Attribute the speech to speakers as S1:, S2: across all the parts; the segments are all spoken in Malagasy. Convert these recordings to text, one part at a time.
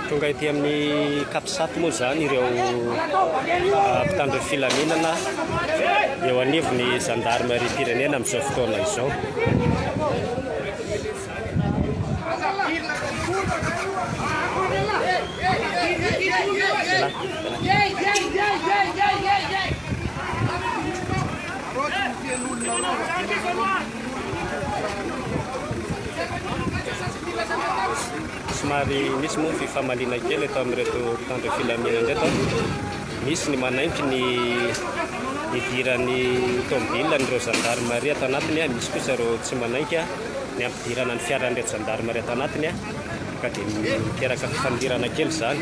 S1: Tonga ety amin'ny Capsat moa izany ireo ah, mpitandro filaminana eo anivon'ny zandarimariam-pirenena amin'izao fotoana izao. Somary misy moa ny fifamaliana kely eto amin'ireto mpitandro filaminana ireto. Misy ny manaiky ny hidiran'ny tomobilina an'ireo zandarimaria ato anatiny, misy kosa ireo tsy manaiky ny hampidirana ny fiaran'ireto zandarimaria ato anatiny, ka dia miteraka fifandirana kely izany.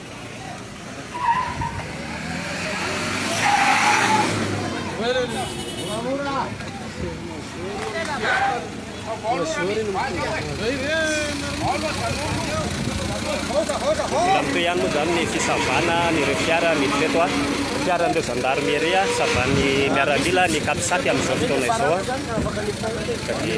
S1: Milamina toy ihany moa izany ny fisavana an'ireo fiara miditra eto. Fiaran'ireo zandarimieria savan'ny miaramila ny Capsat amin'izao fotoana izao. Ka dia.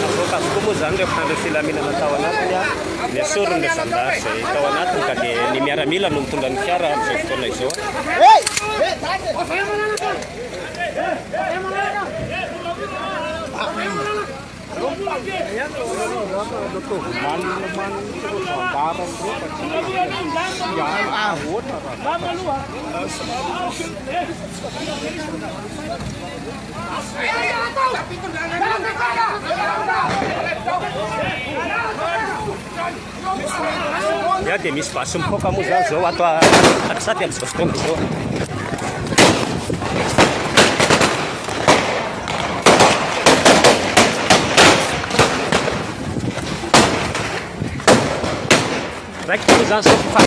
S1: Navoaka avokoa moa izany ireo mpitandro ny filaminana tao anatiny ary nesoriny ireo zandary izay tao anatiny ka dia ny miaramila no mitondra ny fiara amin'izao fotoana izao. Ya dia misy basy mipoaka moa izany izao ato Antsirabe amin'izao fotoana izao. Raikitra moa izany izao.